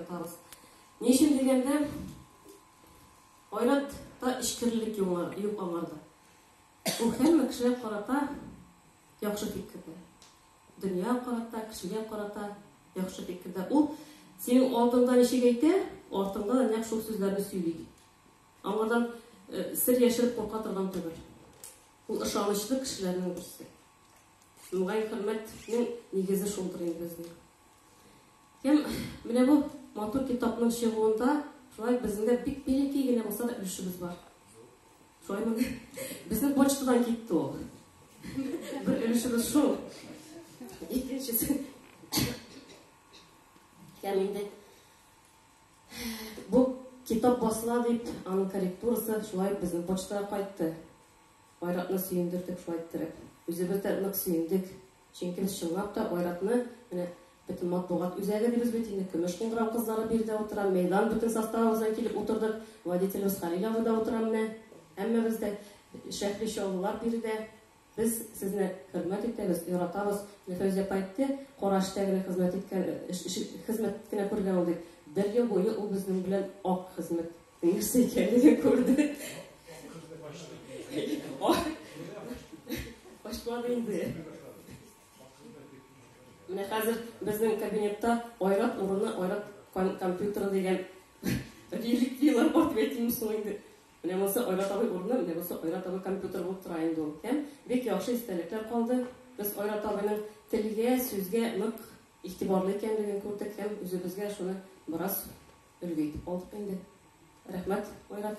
Ятабыз. Ни өчен дигәндә, айратта эчкерлек юк аңарда. Ул һәммә кешегә карата яхшы фикердә. Дөнья карата, кешегә карата яхшы фикердә. Ул синең алдыңда ничек әйтә, артыңда да нәкъ шул сүзләрне сөйли. Аңардан сер яшереп курка торган түгел. Ул ышанычлы кешеләрнең берсе. Мөгаен, хөрмәтнең нигезе шулдыр инде безнең. Һәм менә бу матур китапның чыгуында шулай безнең дә бик милеки генә булса да өлешебез бар. Шулаймы? Безнең почтадан китте ул. Бер өлешебез шул. Икенчесе. Һәм инде бу китап басыла дип, аның корректурасы шулай безнең почтага кайтты. Айратны сөендердек шулай иттереп. Үзебез дә нык сөендек. Чөнки без чынлап та Айратны, менә бөтен матбугат үзәге дибез бит инде, Көмеш кыңгырау кызлары биредә утыра, мәйдан бөтен составыбыз белән килеп утырдык, водителебез Хәлил абый да утыра менә. Һәммәбез дә, Шәһри Чаллылар биредә. Без сезне хөрмәт итәбез, яратабыз. Менә Фәүзия апа әйтте, Кара эштә генә хезмәт иткән, хезмәт кенә күргән ул дип. Бер ел буе ул безнең белән ак хезмәт Нәрсә икәнлеген күрде. Ачмады инде. Менә хәзер безнең кабинетта айрат урыны, айрат компьютеры дигән реликвияләр бар дип әйтимме соң инде. Менә монысы Айрат абый урыны, менә монысы Айрат абый компьютер булып тора инде ул. Һәм бик яхшы истәлекләр калды. Без Айрат абыйның телгә, сүзгә нык игътибарлы икәнлеген күрдек һәм үзебезгә шуны бераз Өлге итеп калдык инде. Рәхмәт, Айрат.